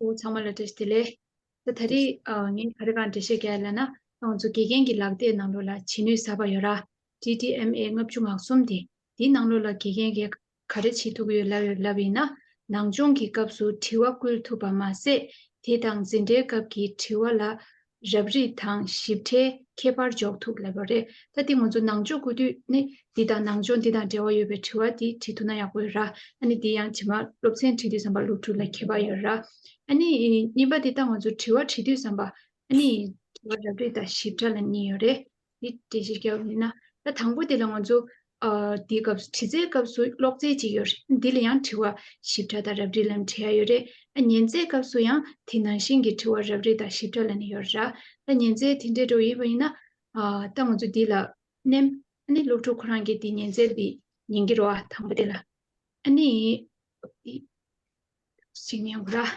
ཨོ་ཚང་མ་ལ་དྲིས་དེ་ལས། ད་ད་རེས་ངས་ག་རེ་གང་འགྲེལ་བཤད་བརྒྱབ་ལ་ན་ཏང་ཙུའུ་དགེ་རྒན་གྱི་ལག་དེབ་ནང་ལོགས་ལ་བྱེད་ནུས་ཟབ་པ་ཡོད་ར། DDMA ལྔ་བཅུ་ངག་གསུམ་དེ་འདིའི་ནང་ལོགས་ལ་དགེ་རྒན་གས་ག་རེ་བྱེད་ཐུབ་ཡོད་ལབ་ཡོད་ལབ་ཡིན་ན་ནང་སྦྱོང་གི་སྐབས་སུ་དྲི་བ་བསྐུལ་ཐུབ་པ་མ་ཟད་དེ་དང་འཛིན་གྲྭའི་སྐབས་ཀྱི་དྲི་བ་ལ་རབ་རིབ་དང་ཞིབ་ཕྲའི་ཁྱད་པར་འཇོག་ཐུབ་ལེ་བ་རེད་ད་དེ་ང་ཚོ་ནང་ཆོས་གོ་དུས་ནི་འདི་དང་ནང་ཆོས་འདི་དང་འབྲེལ་བ་ཡོད་པའི་དྲི་བ་འདི་དྲི་ཐུབ་ན་ཡག་པོ་ཡོད་ར་ཨ་ནི་འདི་ཡང་དྲི་མ་སློབ་ཚན་དྲི་དུས་བསམ་པ་སློབ་ཕྲུག་ལ་ཁྱད་པར་ཡོད་ར་ཨ་ནི་གཉིས་པ་འདི་ལྟ་ང་ཚོ་དྲི་བ་དྲི་དུས་བསམ་པ་ཨ་ནི་དྲི་བ་རབ་རིབ་དང་ཞིབ་ཕྲ་ལ་གཉིས་ཡོད་རེད་འདི་འགྲེལ་བཤད་རྒྱབ་ཡིན་ན། ད་དང་པོ་དེ་ལ་ང་ཚོ། འདིའི་སྐབས་སུ་དྲི་རྩའི་སྐབས་སུ་ཀློག་རྩལ་ཅིག་ཡོད་རེད། འདི་ལ་ཡང་དྲི་བ། ཞིབ་ཕྲ་དང་རབ་རིབ་ལ་ནི་དྲི་ཡ་ཡོད་རེད། ཉན་རྩལ་སྐབས་སུ་ཡང་དེ་ནང་བཞིན་གྱི་དྲི་བ་རབ་རིབ་དང་ཞིབ་ཕྲ་ལ་ནི་ཡོད་རེད། ད་ཉན་རྩལ་དེ་འདྲའི་སྒྲོ་ཡིན་པ་ཡིན་ན། ད་ང་ཚོ་འདི་ལ། ནེམ། ཨ་ནི་སློབ་ཕྲུག་ཁོ་རང་གིས་འདི་ཉན་རྩལ་འདི། ཉན་གྱི་རོ། དང་པོ་དེ་ལ། ཨ་ནི། འདི། ཞིག་ཉན་གོ་ར།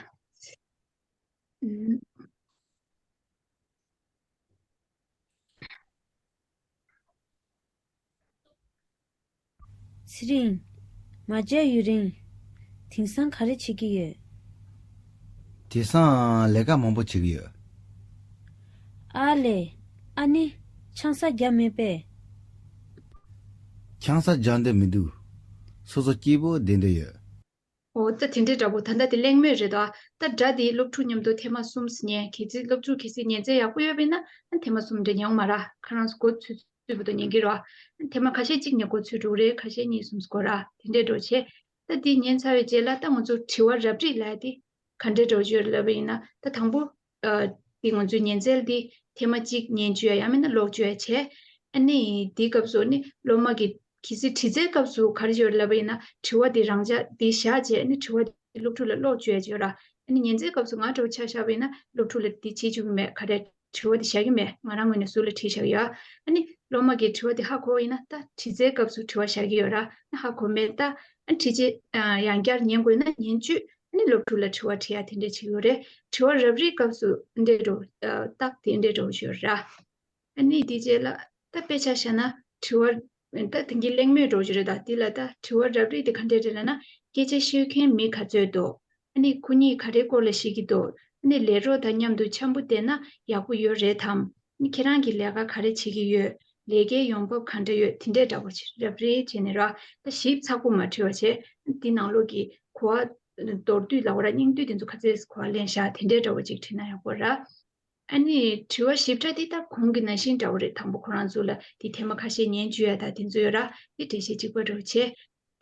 ཚེ་རིང། མ་བརྗེད་ཡུན་རིང། དེང་སང་ག་རེ་བྱེད་ཀྱི་ཡོད། དེང་སང་ལས་ཀ་མང་པོ་བྱེད་ཀྱི་ཡོད། ཨ་ལེ། ཨ་ནི། ཆང་ས་རྒྱག་མེད་པས། ཆང་ས་རྒྱག་འདོད་མི་འདུག། སོ་སོ་སྐྱིད་པོ་བསྡད་འདོད་ཡོད། ཨོ་ད་དེ་འདྲའི་འདྲ་པོ་ད་ལྟ་དེ་གླེང་མོད་རེད་ད། ད་དྲ་དེའི་སློབ་ཕྲུག་མཉམ་དུ་དེ་མ་གསུམ་ཟིན་ཉན་གལ་སྲིད་སློབ་ཕྲུག་གལ་སྲིད་ཉན་རྩལ་ཡག་པོ་ཡོད་པས་ན་དེ་མ་གསུམ་འདྲ་ཉན་འོང་མ་ར་ཁ་རང་སྒོ་ཚུད་ཚུད་པོ་ཏོ་ཉན་གི་རོགས། དེ་མ་ཁ་ཤས་གཅིག་ནས་སྒོ་ཚུད་དྲུག་རེ་ཁ་ཤས་གཉིས་གསུམ་སྒོ་ར་དེ་འདྲའི་འགྲོ་བྱེད། ད་དེ་ཉན་ཚར་བའི་རྗེས་ལ་ད་ང་ཚོ་དྲི་བ་རབ་རིགས་ལ་དེ་ག་འདྲའི་འགྲོ་བྱེད་ལབ་པ་ཡིན་ན་ད་དང་པོ། དེ་ང་ཚོས་ཉན་རྩལ་དེ་ཐེངས་མ་གཅིག་ཉན་བཅོས་ཡང་མིན་ན་ཀློག་བཅོས་བྱས། ཨ་ནི་དེའི་སྐབས་སུ་ཨ་ནི་སློབ་མ་གིས་གལ་སྲིད་དྲི་རྩལ་སྐབས་སུ་ག་རེ་བྱེད་པར་ལབ་པ་ཡིན་ན་དྲི་བ་དེ་རང་འཇགས་དེ་བཞག་རྗེས་ཨ་ནི་དྲི་བ་དེ་སློབ་ཕྲུག་ལ་ཀློག་བཅོས་བྱོས་ལ། ཨ་ནི་ཉན་རྩལ་སྐབས་སུ་ང་དྲི་བ་ཆགས་བཞག་པ་ཡིན་ན་སློབ་ཕྲུག་ལ་དེ་བྱེད་བཅུག་གི་མེད་ཁ་བྲལ་དྲི་བ་དེ་བཞག་གི་མེད་ང་རང་ངོས་ནས་ཟུར་ལ་བྲིས་བཞག་ཡོད། ཨ་ནི་སློབ་མ་གིས་དྲི་བ་དེ་ཧ་གོ་བ་ཡིན་ན་ད་དྲི་རྩལ་སྐབས་སུ་དྲི་བ་བཞག་གི་ཡོད་ར་ཨ་ནི་ཧ་གོ་མེད་ད་ཨ་ནི་བྲིས་རྗེས་ཡང་བསྐྱར་ཉན་དགོས་ན་ཉན་བཅོས་ནི་སློབ་ཕྲུག་ལ་དྲི་བ་དྲི་ཡ་དེ་འདྲས་ཆེ་ཡོད་རེད་དྲི་བ་རབ་རིབ་སྐབས་སུ་འདྲས་འགྲོ་རྟགས་དེ་འདྲས་འགྲོ་ཞོར་ར། ནི་དེ་རྗེས་ལ་ད་དཔེ་ཆ་བཤད་ན་དྲི་བ་ད་དེང་གི་གླེང་མོས་འགྲོ་རྒྱུ་རེད་ད་དེ་ལ་ད་དྲི་བ་རབ་རིབ་དེ་ག་འདྲས་རེད་ལ་ན་སྐད་ཆ་ཤོད་མཁན་མི་ག་ཚོད་འདུག་ནི་ཁོ་གཉིས་ག་རེ་སྐོར་ལ་བཤད་ཀྱི་འདུག་ནི་ལས་རོགས་དང་མཉམ་དུ་འཆམ་པོ་བསྡད་ན་ཡག་པོ་ཡོད་རེད་དམ་ནི་ཁྱེད་རང་གིས་ལས་ཀ་ག་རེ་བྱེད་ཀྱི་ཡོད། ལས་ཀའི་ཡོང་འབབ་ག་འདྲ་ཡོད་དེ་འདྲས་འདྲ་པོ་རབ་རེ་བྱས་ནས་ར་ལྟ་ཞིབ་ཚགས་པོ་མ་བྲིས་བ་བྱས་ན་འདི་ནང་ལོགས་ཀྱི་གོ་བ། མདོར་བསྡུས་ལ་བ་ར་སྙིང་བསྡུས་དེ་ཚོ་ཁ་ཚེས་གོ་བ་ལེན་བཞག་དེ་འདྲས་འདྲ་བོ་ཅིག་བྲིས་ན་ཡག་པོ་ར། ཨ་ནི་དྲི་བ་ཞིབ་ཕྲ་འདི་ལྟ་གོང་གི་ན་ཤིང་འདྲ་བོ་རེ་དང་པོ་ཁོ་རང་ཚོ་ལ་འདི་ཐེངས་མ་ཁ་ཤས་ཉན་བཅུ་ཡ་དག་དེ་ཚོ་ཡོད་ར་འདི་འགྲེལ་བཤད་གཅིག་པ་རེ་བ་བྱས་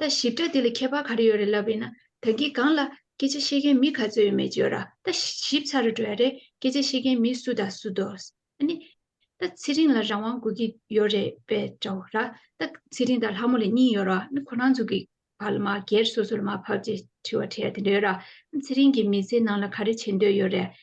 ད་ཞིབ་ཕྲ་འདི་ལ་ཁྱད་པར་ག་རེ་ཡོད་རེད་ལབ་རེད་ན་ད་འགི་སྒང་ལ་སྐད་ཆ་ཤེས་མཁན་མི་ག་ཚོད་ཡོད་མེད་བརྗོད་ར་ད་ཞིབ་ཚག་རེ་འགྲོ་ཡ་རེད་སྐད་ཆ་ཤེས་མཁན་མི་སུ་ད་སུ་འདོགས་ཨ་ནི། ད་ཚེ་རིང་ལ་རང་དབང་དགོས་ཀི་ཡོད་རེད་པས་འདྲ་བོ་ར་ད་ཚེ་རིང་དང་ལྷ་མོ་ལ་གཉིས་ཡོད་ར་ནི་ཁོ་རང་ཚོ་གི་བར་ལ་མ་སྒེར་སོ་སོ་ལ་མ་བབ་ཅེས་དྲི་བ་དྲི་ཡ་དེ་འདྲའི་ར་ད་ཚེ་རིང་གི་མི་ཚེ་ནང་ལ་ག་རེ་བྱེད་འདོད་ཡོད་རེད